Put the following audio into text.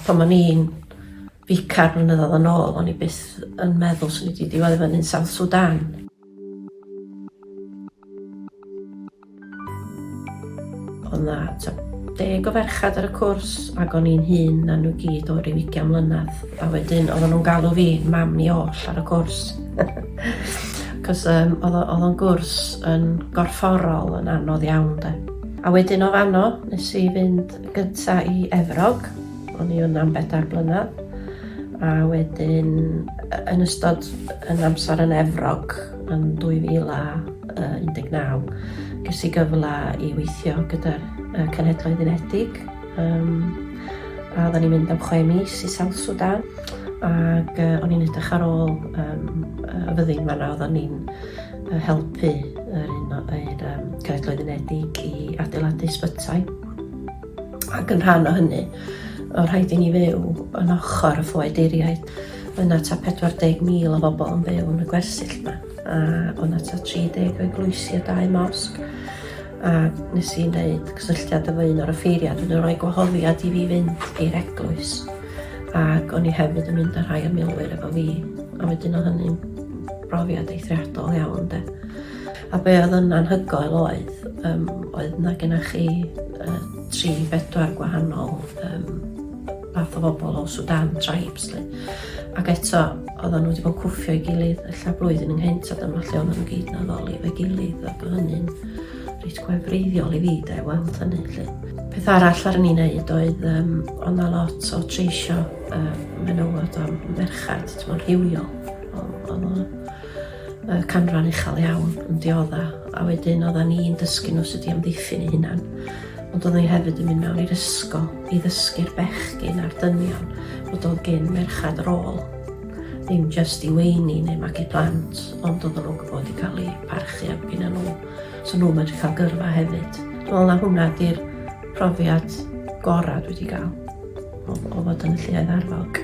Pan o'n i'n ficar blynyddoedd yn ôl, o'n i byth yn meddwl swn i wedi diwedd i fyny'n South Sudan. Oedd na ta deg o ferchad ar y cwrs ac o'n i'n hun na nhw gyd o ryw ugian mlynedd. A wedyn oedden nhw'n galw fi mam ni oll ar y cwrs. Cos um, oedd o'n gwrs yn gorfforol yn anodd iawn de. A wedyn o fanno, nes i fynd gynta i Efrog, o'n i yna am bedair blynedd, a wedyn yn ystod yn amser yn Efrog yn 2019, ges i gyfle i weithio gyda'r uh, Cenhedloedd Unedig, um, a oedden ni'n mynd am chwe mis i South Sudan, ac uh, o'n i'n edrych ar ôl um, y fyddin fanna oedden ni'n uh, helpu yr un o'r um, Cenhedloedd Unedig i adeiladu sbytai. Ac yn rhan o hynny, o rhaid i ni fyw yn ochr y ffoeduriaid. Yna ta 40,000 o bobl yn byw yn y gwersyll yma, a bod yna ta 30 eglwysi a dau mosg. A nes i wneud cysylltiad efo un o'r offeiriad, yn rhoi gwahoddiad i fi fynd i'r eglwys. Ac o'n i hefyd yn mynd â rhai o milwyr efo fi, a wedyn o hynny'n brofiad eithriadol iawn de. A be oedd yn anhygoel oedd, um, oedd na gyda chi uh, tri, bedwar gwahanol um, fath o bobl o Sudan, tribes. Li. Ac eto, oedden nhw wedi bod cwffio i gilydd, ella blwyddyn ynghynt, a dyma lle oedden nhw gyd na ddoli fe gilydd, a bod hynny'n reit gwefreiddiol i fi, da, i weld hynny. Li. Peth arall ar ni'n neud oedd, um, ond na lot o treisio um, menywod a merched, ti'n rhywiol. Oedd o'n y canran uchel iawn yn diodda a wedyn oedda ni'n dysgu nhw sut i amddiffyn eu hunan. Ond oedda ni hefyd yn mynd mewn i'r ysgol i ddysgu'r bechgyn a'r dynion bod oedd gen merchad rôl. Ddim just i weini neu magu plant, ond oedden nhw'n gwybod i cael eu parchu am gynna nhw. So nhw'n medru cael gyrfa hefyd. Dwi'n meddwl na hwnna di'r profiad gorau dwi wedi cael o, o fod yn y lluoedd arfog.